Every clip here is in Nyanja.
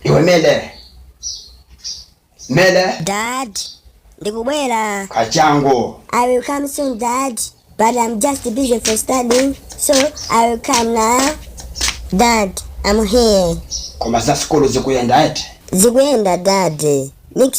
Iwe Mele. Mele. Dad, ndikubwera. Kachangu. I will come soon, Dad. But I'm just busy for studying, so I will come now. Dad, I'm here. Koma za sikolo zikuyenda eti. Zikuyenda, Dad.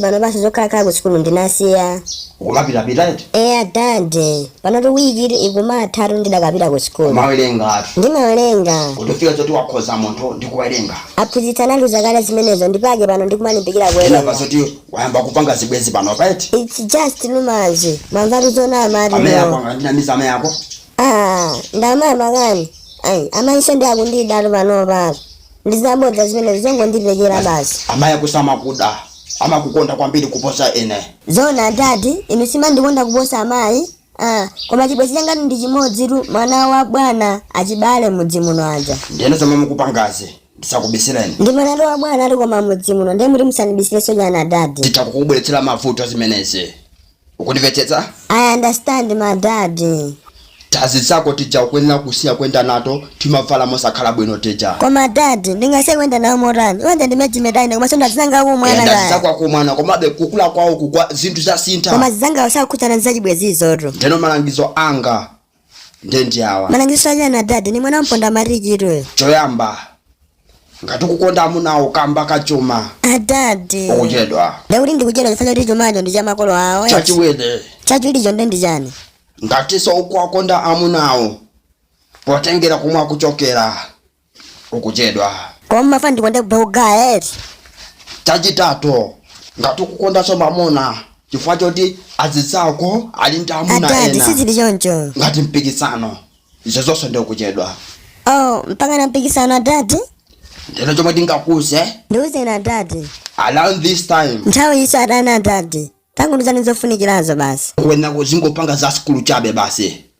panopanso zokhalakhala ku sukulu ndinasiya. Ukumapitapita eti? Eya dad, panotu week iliyonse ikumathatu ndidakapita ku sukulu. Umawerenga eti? Ndimawerenga. Kutofika zoti wakhoza munthu ndi kuwerenga. Aphunzitsi anatiuza kale zimenezo ndi pake pano ndikumalimbikira Ndinamva kuwerenga. zoti wayamba kupanga zibwenzi panopa eti? It's just rumors. Mwamvatu zonama adadi Amene ako no. angandinamiza amene ako? Ah, ndamaya makani. Ayi, amanso ndiye akundidatu panopa. ndi zabodza zimenezo zongondipekera basi amayi ako samakuda amakukonda kwambiri kuposa ine zoona adadi inu simandikonda kuposa amayi ah, koma chibwenzi changatu ndi chimodzitu mwana wa bwana achibale mudzi muno aja ndiyeno zomwe mukupangazi ndisakubisire ndi mwana wa bwana ati koma mudzi muno ndiye mukuti musandibisirenso nanga adadi zidzakubweretsera mavuto zimenezi ukundimvetsetsa I understand my daddy. tazizako tija ukuyenera kusiya kuyenda nato timavala mosakhala bwino tija Koma daddy, ndingasiye kuyenda nawo motani. Iwe ndi ma age mate anga komanso ndazanga akumwana dadi kaya. zako akumwana komabe kukula kwawo kukwa zinthu zasintha Koma azanga sakukhudzana ndi zachibwenzi izotu. ndeno malangizo anga nde ndi awa malangizo achani adadi ndi mwana wamponda matiki iwe choyamba ngati ukukonda amunawo kamba kachuma adadi ukuchedwa ndekuti ndikuchedwa chifukwa choti chumacho ndi cha makolo awo eti. chachiwiri chachiwiricho nde ndi chani ngatinso ukuwakonda amunawo potengera komwe akuchokera ukuchedwa Koma mafana ndikonda kuba kugawa eti. chachitatu ngati ukukondanso mamuna chifukwa choti azizako ali ndi amuna Adadi ine sizili choncho. ngati mpikisano izo zonse ndi ukuchedwa Oh, mpaka na mpikisano adadi? ndiye chomwe ndingakuuze Ndiuzeni adadi. around this time Nthawi yonse adadi adadi. Tangondiuzani zofunikirazo basi. uyenera uzingopanga za sukulu chabe basi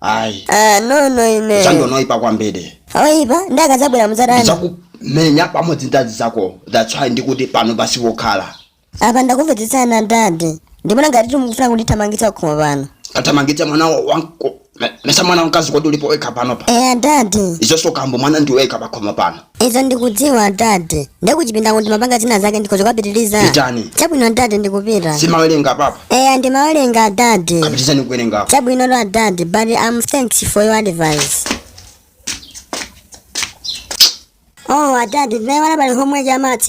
ayi Ah, no no ine. chandiipa kwambiri Akaipa ndikazabwera muzatani. ndizakumenya pamodzi ndazizako that's why ndikuti pano posokhala Apa ndakumvetsetsani adadi. Ndimaona ngati mukufuna kundithamangitsa pakhomo pano. ndikathamangitse mwana wa- wanga me- mesa mwana wamkazi kodi ulipo wekha pano pa Eh adadi. izoso komabe mwana ndiwekha pakhomo pano Izo ndikudziwa adadi. Ndiye kuchipinda kuja ndimapanga zina zake ndikhoza kupitiriza. Pitani. Chabwino adadi ndikupita. Sumawerenga paja. Eya ndimawerenga adadi. Kapitirize kuwerenga. Chabwinotu adadi, but thanks for your advice. Oh adadi, ndinayiwala pali homework ya maths.